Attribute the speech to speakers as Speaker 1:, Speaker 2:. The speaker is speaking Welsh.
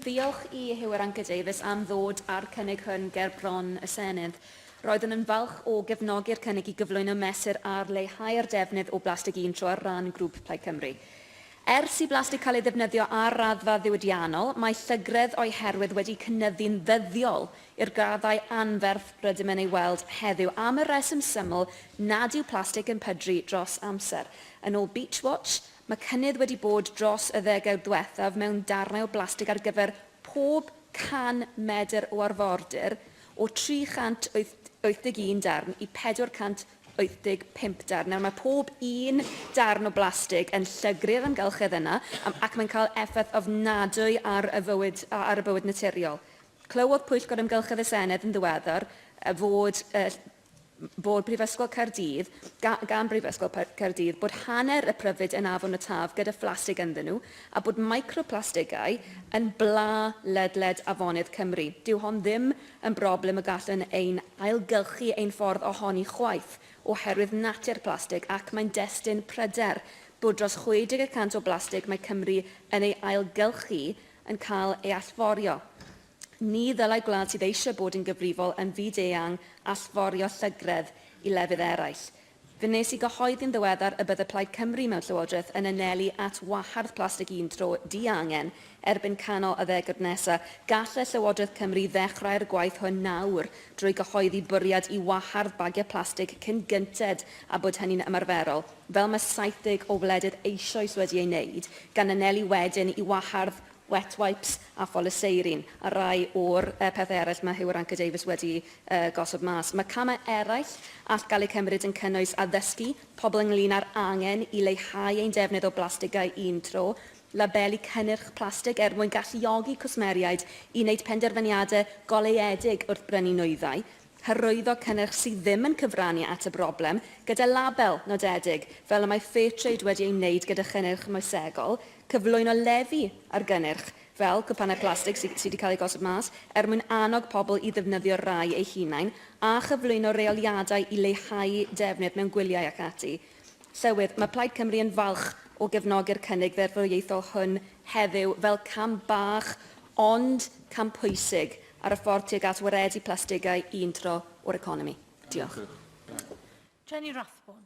Speaker 1: Ddiolch i Huw Irranca-Davies am ddod â'r cynnig hwn ger bron y Senedd. Roeddwn yn falch o gefnogi'r cynnig i gyflwyno mesur ar leihau'r defnydd o blastig un tro ar ran Grŵp Plaid Cymru. Ers i blastig cael ei ddefnyddio ar raddfa ddiwydiannol, mae llygredd o'i herwydd wedi cynyddu'n ddyddiol i'r graddau anferth rydym yn ei weld heddiw am y rheswm syml nad yw plastig yn pydru dros amser, yn ôl Beach Watch Mae cynnydd wedi bod dros y ddegawd ddiwethaf mewn darnau o blastig ar gyfer pob 100 medr o arfordir, o 381 darn i 485 darn. Nawr, mae pob un darn o blastig yn llygru'r amgylchedd yna ac mae'n cael effaith ofnadwy ar y fywyd, ar y bywyd naturiol. Clywodd Pwyllgor Amgylchedd y Senedd yn ddiweddar fod bod Prifysgol Caerdydd, ga, gan Brifysgol Caerdydd, bod hanner y pryfid yn afon y Taf gyda phlastig ynddyn nhw, a bod microplastigau yn bla ledled afonydd Cymru. Dyw hon ddim yn broblem y gallwn ein ailgylchu ein ffordd ohoni chwaith, oherwydd natur plastig, ac mae'n destun pryder bod dros 60 y cant o blastig mae Cymru yn ei ailgylchu yn cael ei allforio. Ni ddylai gwlad sydd eisiau bod yn gyfrifol yn fyd-eang allforio llygredd i lefydd eraill. Fe wnes i gyhoeddi'n ddiweddar y bydde Plaid Cymru mewn Llywodraeth yn anelu at wahardd plastig un tro diangen erbyn canol y ddegawd nesaf. Gallai Llywodraeth Cymru ddechrau'r gwaith hwn nawr drwy gyhoeddi bwriad i wahardd bagiau plastig cyn gynted â bod hynny'n ymarferol, fel mae 70 o wledydd eisoes wedi ei wneud, gan anelu wedyn i wahardd wet wipes a pholyseirin, a rai o'r pethau eraill mae Huw Irranca-Davies wedi gosod mas. Mae camau eraill all gael eu cymryd yn cynnwys addysgu pobl ynglŷn â'r angen i leihau ein defnydd o blastigau un tro, labelu cynnyrch plastig er mwyn galluogi cwsmeriaid i wneud penderfyniadau goleuedig wrth brynu nwyddau, Hyrwyddo cynnyrch sydd ddim yn cyfrannu at y broblem, gyda label nodedig, fel y mae Fairtrade wedi ei wneud gyda chynnyrch moesegol, cyflwyno lefi ar gynnyrch, fel cwpanau plastig sydd wedi cael eu gosod mas, er mwyn annog pobl i ddefnyddio'r rhai eu hunain, a chyflwyno reoliadau i leihau defnydd mewn gwyliau ac ati. Llywydd, mae Plaid Cymru yn falch o gefnogi'r cynnig ddeddfwriaethol hwn heddiw fel cam bach ond cam pwysig ar y ffordd tuag at waredu plastigau un tro o'r
Speaker 2: economi.
Speaker 1: Diolch. Jenny Rathbone.